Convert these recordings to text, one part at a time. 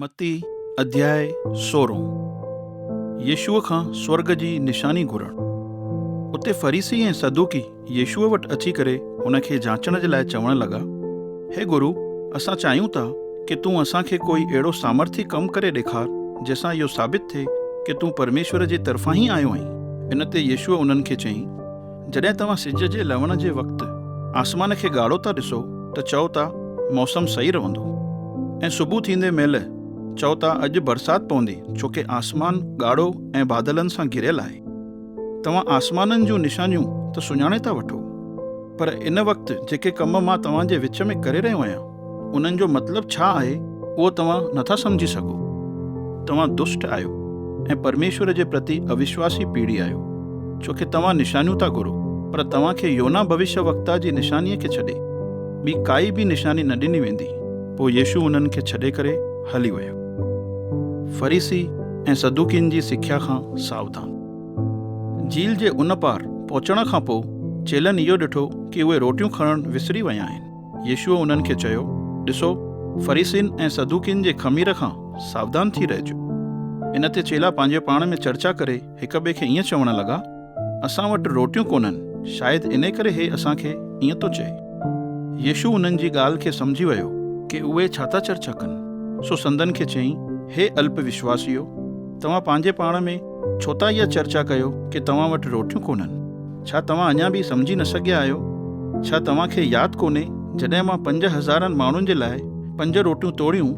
متي، اڌياء سورهون، يسوع کان سورڳ جي نشاني گهرڻ. اتي فريسي ۽ صدوقي يسوع وٽ اچي ڪري هن کي جاچڻ جي لاء چوڻ لڳا، هي گرو، اسان چاهيون ٿا ڪي تون اسان کي ڪوئي اهڙو سامرٿي ڪم ڪري ڏيکار جنهن سان اهو ثابت ٿئي ڪي تون پرميشور جي طرفان ئي آيو آهين. ان تي يسوع انهن کي چيائين، جڏهن توهان سج جي لهڻ جي وقت آسمان کي ڳاڙهو ٿا ڏسو ته چئو ٿا موسم صحيح رهندو ۽ صبح ٿيندي مهل چئو ٿا اڄ برسات پوندي ڇوڪه آسمان ڳاڙهو ۽ بادلن سان گهريل آهي. توهان آسمانن جون نشانيون ته سڃاڻي ٿا وٺو پر ان وقت جيڪي ڪم مان توهان جي وچ ۾ ڪري رهيو آهيان، انهن جو مطلب ڇا آهي، اهو توهان نٿا سمجهي سگهو. توهان دشٽ آهيو ۽ پرميشور جي پرتي اوشواسي پيڙهي آهيو، ڇو کي توهان نشانيون ٿا گهرو، پر توهان کي يونا ڀوشيوڪتا جي نشانيء کي ڇڏي، ٻي ڪائي به نشاني نه ڏني ويندي. پوء يسوع انهن کي ڇڏي ڪري هلي ويو. فريسي ۽ صدوقين جي سکيا کان ساوڌان. جيل جي ان پار پهچڻ کان پوء چيلن اهو ڏٺو ڪي اهي روٽيون کڻڻ وسري ويا آهن. يسوع انهن کي چيو، ڏسو، فريسين ۽ صدوقين جي خمير کان ساودان ٿي رهجو. ان تي چيلا پنهنجي پاڻ ۾ چرچا ڪري هڪ ٻئي کي ائين چوڻ لڳا، اسان وٽ روٽيون ڪونهن، شايد انهي ڪري هي اسان کي ائين ٿو چئي. يسوع انهن جي ڳالهه کي سمجهي ويو ڪي اهي ڇا ٿا چرچا ڪن، سو سندن کي چيائين، هي الپ وشواسيو، توهان پنهنجي پاڻ ۾، ڇو ٿا اها چرچا ڪيو ڪي توهان وٽ روٽيون ڪونهن؟ ڇا توهان اڃا به سمجهي نه سگهيا آهيو؟ ڇا توهان کي ياد ڪونهي جڏهن مان پنج هزارن ماڻهن جي لاء پنج روٽيون توڙيون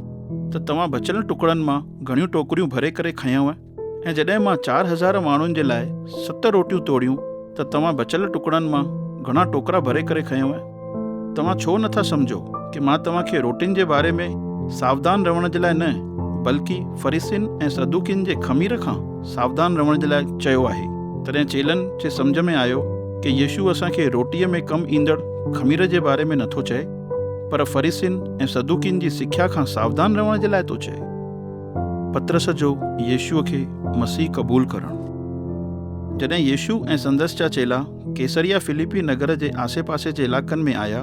ته توهان بچيل ٽڪڙن مان گهڻيون ٽوڪريون ڀري ڪري کنيو ۽ جڏهن مان چار هزار ماڻهن جي لاء ست روٽيون توڙيون ته توهان بچيل ٽڪڙن مان گهڻا ٽوڪرا ڀري ڪري کنيو ۽ توهان ڇو نه ٿا سمجهو ته مان توهان کي روٽين جي باري ۾ ساودان رهڻ جي لاء نه بلڪ فريسين ۽ صدوقين جي خمير کان ساودان رهڻ جي لاء چيو آهي. تڏهن چيلن جي سمجهه ۾ آيو ته يسوع اسان کي روٽيء ۾ ڪم ايندڙ خمير جي باري ۾ نه ٿو چئي، پر فريسين ۽ صدوقين جي سکيا کان ساودان رهڻ جي لاء ٿو چئي. پطرس جو يسوع کي مسيح قبول ڪرڻ. جڏهن يسوع ۽ سندس جا چيلا ڪيسريا فليپي نگر جي آسي پاسي جي علاقن ۾ آيا،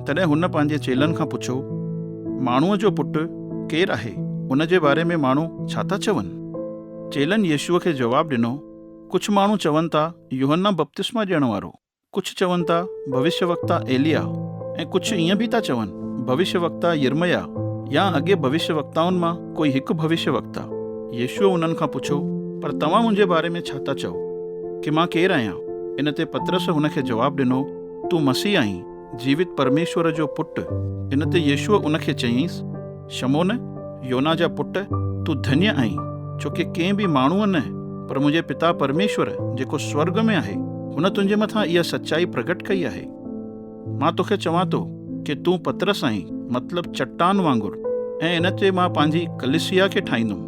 تڏهن هن پنهنجي چيلن کان پڇيو، ماڻهوء جو پٽ ڪير آهي، ان جي باري ۾ ماڻهو ڇا ٿا چون؟ چيلن يسوع کي جواب ڏنو، ڪجهه ماڻهو چون ٿا، يوحنا بپتسما ڏيڻ وارو، ڪجهه چون ٿا، ڀوشيوڪتا ايليا، ۽ ڪجهه ائين به ٿا چون، ڀوشيوڪتا يرمياه يا اڳين ڀوشيوڪتائن مان ڪوئي هڪ ڀوشيه وڪتا. يسوع انهن کان پڇيو، پر توهان منهنجي باري ۾ ڇا ٿا چئو، ڪي مان ڪير آهيان؟ ان تي پطرس هن کي جواب ڏنو، تون مسيح آهين، جيوت پرميشور جو پٽ. ان تي يسوع ان کي چيائينس، شمعون، يونا جا پٽ، تون ڌنيه آهين، ڇو ڪي ڪنهن به ماڻهوء نه، پر منهنجي پتا پرميشور، جيڪو سورڳ ۾ آهي، هن تنهنجي مٿان اها سچائي پرگهٽ ڪئي آهي. مان توکي چوان ٿو ڪي تون پطرس آهين، مطلب چٽان وانگر، ۽ ان تي مان پنهنجي ڪليسيا کي ٺاهيندم،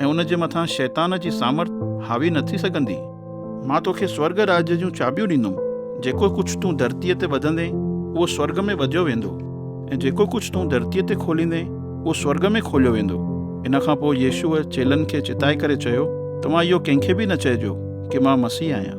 ۽ ان جي مٿان شيطان جي سامرٿ حاوي نه ٿي سگهندي. مان توکي سورڳ راڄ جون چاٻيون ڏيندم، جيڪو ڪجهه تون ڌرتيء تي ٻڌندين، اهو سورڳ ۾ ٻڌيو ويندو، ۽ جيڪو ڪجهه تون ڌرتيء تي کوليندين، اهو سورڳ ۾ کوليو ويندو. ان کان پوء يسوع چيلن کي چتائي ڪري چيو، توهان اهو ڪنهن کي به نه چئجو ڪي مان مسيح آهيان.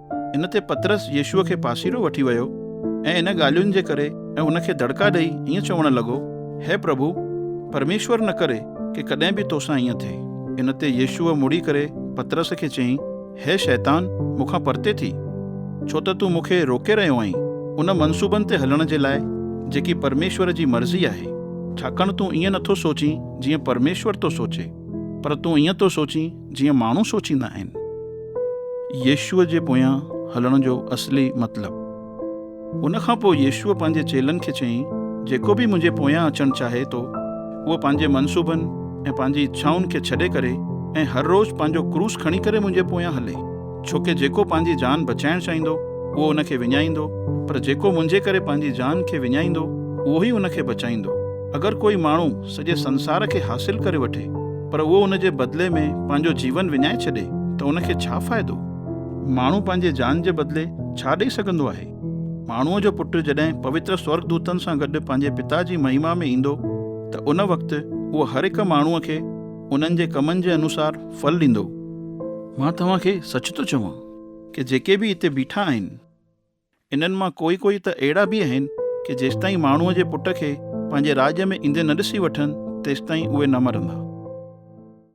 ان تي پطرس يسوع کي پاسيرو وٺي ويو ۽ ان ڳالهين جي ڪري ۽ ان کي دڙڪا ڏئي ائين چوڻ لڳو، هي پرڀو، پرميشور نه ڪري ڪي ڪڏهن به تو سان ائين ٿئي. ان تي يسوع مڙي ڪري پطرس کي چيائين، هي شيطان، مون کان پرتي ٿي، ڇو ته تون مون کي روڪي رهيو آهين، ان منصوبن تي هلڻ جي لاء جيڪي پرميشور جي مرضي آهي. ڇاڪاڻ تون ائين نه ٿو سوچين جيئن پرميشور ٿو سوچي، پر تون ائين ٿو سوچين جيئن ماڻهو سوچيندا آهن. يسوع جي پويان هلڻ جو اصلي مطلب. ان کان پوء يسوع پنهنجي چيلن کي چيائين، جيڪو به منهنجي پويان اچڻ چاهي ٿو، اهو پنهنجي منصوبن ۽ پنهنجي اڇائن کي ڇڏي ڪري ۽ هر روز پنهنجو ڪروس کڻي ڪري منهنجي پويان هلي. ڇو ڪي جيڪو پنهنجي جان بچائڻ چاهيندو، اهو ان کي وڃائيندو، پر جيڪو منهنجي ڪري پنهنجي جان کي وڃائيندو، اهو ئي ان کي بچائيندو. اگر ڪوئي ماڻهو سڄي سنسار کي حاصل ڪري وٺي پر اهو ان جي بدلي ۾ پنهنجو جيون وڃائي ڇڏي ته ان کي ڇا فائدو؟ ماڻهو پنهنجي جان جي بدلي ڇا ڏئي سگهندو آهي؟ ماڻهوء جو پٽ جڏهن پوتر سورڳدوتن سان گڏ پنهنجي پتا جي مهما ۾ ايندو ته ان وقت اهو هر هڪ ماڻهوء کي انهن جي ڪمن جي انوسار ڦل ڏيندو. مان توهان کي سچ ٿو چوان ڪي جيڪي به اتي بيٺا آهن. انهن مان ڪوئي ڪوئي ته اهڙا به آهن ڪي جيستائين ماڻهوء جي پٽ کي پنهنجي راڄ ۾ ايندي نه ڏسي وٺن، تيستائين اهي نه مرندا.